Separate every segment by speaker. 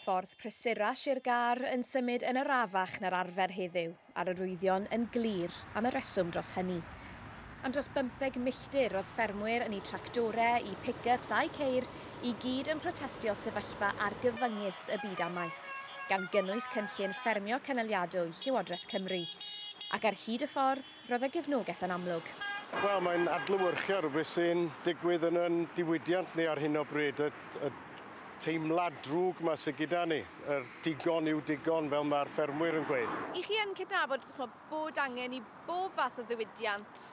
Speaker 1: Ffordd prysura Sir Gâr yn symud yn arafach na'r arfer heddiw, a'r arwyddion yn glir am y rheswm dros hynny. Am dros bymtheg milltir roedd ffermwyr yn eu tractorau, eu pick-ups a'u ceir i gyd yn protestio sefyllfa argyfyngus y byd amaeth, gan gynnwys cynllun ffermio cynaliadwy Llywodraeth Cymru. Ac ar hyd y ffordd? Roedd y gefnogaeth yn amlwg. Wel, mae'n adlewyrchu ar beth sy'n digwydd yn yn diwydiant ni ar hyn o bryd, y, y teimlad drwg yma sydd gyda ni, yr digon yw digon, fel mae'r ffermwyr yn gweud. I chi yn cydnabod chmo, bod angen i bob fath o ddiwydiant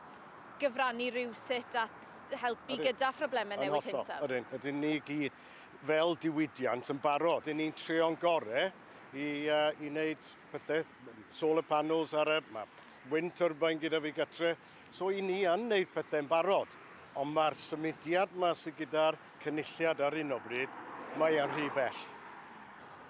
Speaker 1: gyfrannu rywsut at helpu gyda phroblemau newid hinsawdd? Ydyn, ydyn ni gyd fel diwydiant yn barod. Dyn ni'n treo'n gore i, uh, i wneud pethau, solar panels ar y, mae wind turbine gyda fi gytre, so i ni yn wneud pethau'n barod. Ond mae'r symudiad yma sydd gyda'r cynulliad ar un o bryd, mae e'n rhy bell.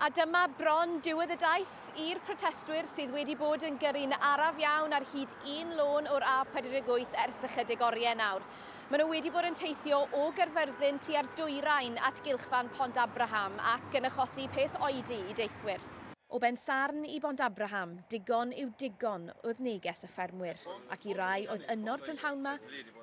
Speaker 1: A dyma bron diwedd y daith. I'r protestwyr sydd wedi bod yn gyrru'n araf iawn ar hyd un lôn o'r A48 ers ychydig oriau nawr. Maen nhw wedi bod yn teithio o Gaerfyrddin tua'r dwyrain at gylchfan Pont Abraham ac yn achosi peth oedi i deithwyr. O Bensarn i Bont Abraham, digon yw digon oedd neges y ffermwyr, ac i rai oedd yno'r prynhawn 'ma,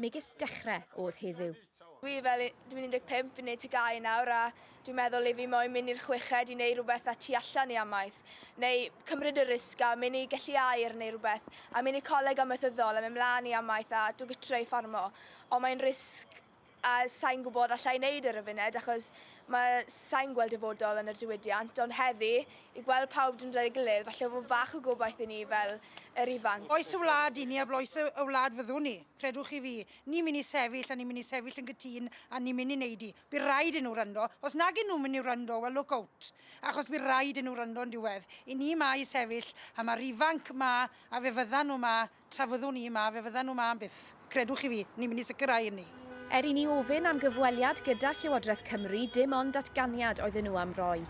Speaker 1: megis dechre oedd heddiw. Dwi fel, dwi'n 15, fi'n neud TGAU nawr a dwi'n meddwl i fi moyn myn i'r chweched i neud rwbeth a tu allan i amaeth, neu cymryd y risg a myn i gellu air neu rwbeth, a myn i coleg amaethyddol a myn mlan i amaeth a dw gytre i ffarmo, ond mae'n risg. A sai'n gwybod alla i neud e ar y funed achos mae... sai'n gweld dyfodol yn y diwydiant ond heddi i gweld pawb dod at ei gilydd falle fod bach o gobaith i ni fel yr ifanc. Oes y wlad i ni a bloes y wlad fyddwn ni. Credwch chi fi. Ni'n mynd i sefyll a ni'n mynd i sefyll yn gytun a ni'n mynd i neud i. By raid i nhw wrando. Os nag i nhw mynd i wrando wel look out. Achos by raid i nhw wrando yn diwedd. I ni ma i sefyll a ma'r ifanc ma a fe fyddan nhw ma Tra fyddwn ni yma, fe fyddan nhw yma am byth. Credwch i fi, ni'n mynd i sicrhau hynny. Er i ni ofyn am gyfweliad gyda Llywodraeth Cymru, dim ond datganiad oedden nhw am roi.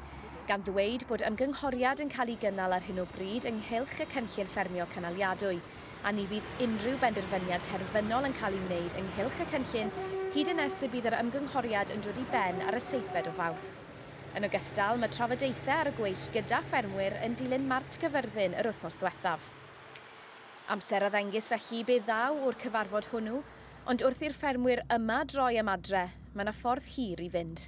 Speaker 1: Gan ddweud bod ymgynghoriad yn cael ei gynnal ar hyn o bryd ynghylch y cynllun ffermio cynaliadwy, a ni fydd unrhyw benderfyniad terfynol yn cael ei wneud ynghylch y cynllun hyd yn nes y bydd yr ymgynghoriad yn dod i ben ar y seithfed o Fawrth. Yn ogystal, mae trafodaethau ar y gweill gyda ffermwyr yn dilyn Mart Cyfyrddin yr wythnos ddiwethaf. Amser a ddengys felly be ddaw o'r cyfarfod hwnnw, ond wrth i'r ffermwyr yma droi am adre, mae 'na ffordd hir i fynd.